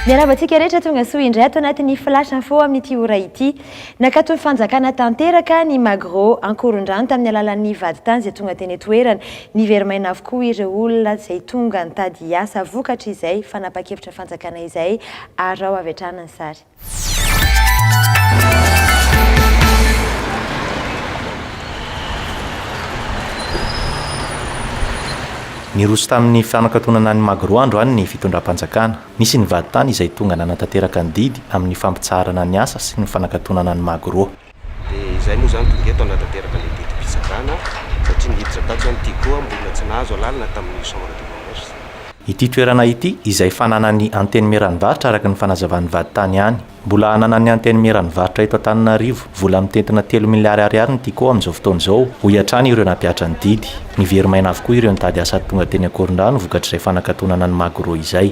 Miarahaba antsika rehetra tonga soa indray ato anatin'ny flash info amin'ity ora ity. Nakaton'ny fanjakana tanteraka ny Magro ankorondrano tamin'ny alalan'ny vadintany izay tonga teny toerana. Niverimaina avokoa ireo olona izay tonga nitady asa vokatry izay fanapa-kevitra fanjakana izay. Araho avy hatrany ny sary. Niroso tamin'ny fanakatonana an'i Magro andro any ny fitondram-panjakana. Nisy nivady tany izay tonga nanatanteraka ny didy amin'ny fampitsaharana ny asa sy ny fanakatonana an'i Magro. Dia izay moa izany tonga eto hanatanteraka ilay didim-pitsarana satria niditra tato izany ity koa mbola tsy nahazo alalana tamin'ny chambre de commerce. Ity toerana ity izay fananan'ny Antenimieran'ny varotra araka ny fanazavan'ny vadintany ihany. Mbola ananan'ny Antenimieran'ny varotra eto Antananarivo vola mitentina telo miliary ariary ny Tiko amin'izao fotoana izao, hoy hatrany ireo nampiatra ny didy. Nivery maina avokoa ireo nitady asa tonga teny Ankorondrano vokatr'izay fanakatonana ny Magro izay.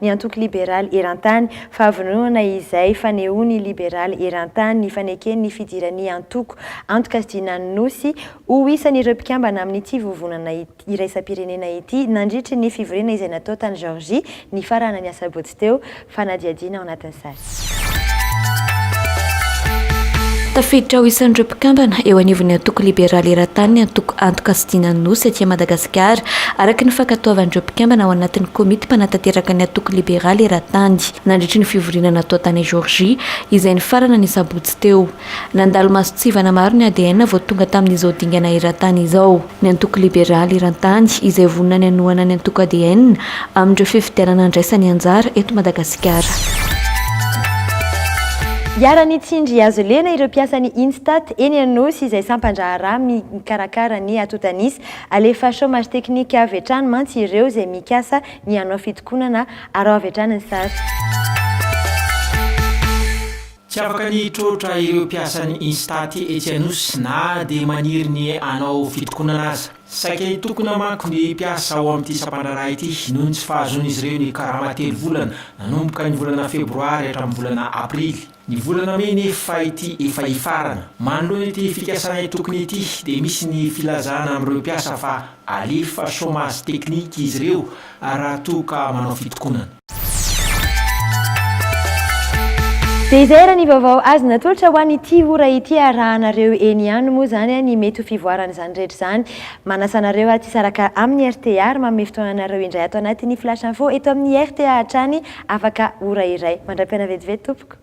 ny Antoko Liberaly Erantany, fahavononana izay fanehoan'ny Liberaly Erantany ny fanekeny ny fidiran'ny antoko antokasidinan'ny Nosy ho isan'ireo mpikambana amin'ity vovonana iraisam-pirenena ity nandritry ny fivoriana izay natao tany Georgie nifaranan'ny asabotsy teo, fanadihadiana ao anatin'ny sary. Tafiditra ho isan'ireo mpikambana eo anivon'ny antoko liberaly eran-tany ny antoko Antoka sy Dinan'ny Nosy aty Madagasikara, araka ny fankatoavan'ireo mpikambana ao anatin'ny komity mpanatanteraka ny antoko liberaly eran-tany, nandritry ny fivoriana natao tany Georgie, izay nifarana ny sabotsy teo. Nandalo masontsivana maro ny ADN vao tonga tamin'izao dingana eran-tany izao. ny Antoko Liberaly eran-tany izay vonona ny hanohana ny antoko ADN amin'ireo fifidianana handraisany anjara eto Madagasikara. Iharan'Itsindry azo lena ireo mpiasan'ny Instat eny Anosy izay sampan-draharaha mikarakara ny atotanisa. Alefa chômage technique avy hatrany mantsy ireo izay mikasa ny hanao fitokonana. Araho avy hatrany ny sary. Tsy afaka ny hitroatra ireo mpiasan'ny Instat etsy Anosy na dia maniry ny hanao fitokonana aza. Saika hitokona manko ny mpiasa ao amin'ity sampandraharaha ity noho ny tsy fahazoan'izy ireo ny karama telo volana nanomboka ny volana febroary hatramin'ny volana aprily, ny volana mey nefa ity efa hifarana. Manoloana ity fikasana hitokona ity dia misy ny filazana amin'ireo mpiasa fa alefa chômage technique izy ireo raha toa ka manao fitokonana. Dia izay ary ny vaovao azo natolotra ho an'ity ora ity. Arahanareo eny ihany moa izany ny mety ho fivoaran'izany rehetra izany. Manasa anareo ary tsy hisaraka amin'ny rta ary manome fotoana anareo indray ato anatin'ny flash info eto amin'ny rta hatrany afaka ora iray mandram-piana vetivety tompoko.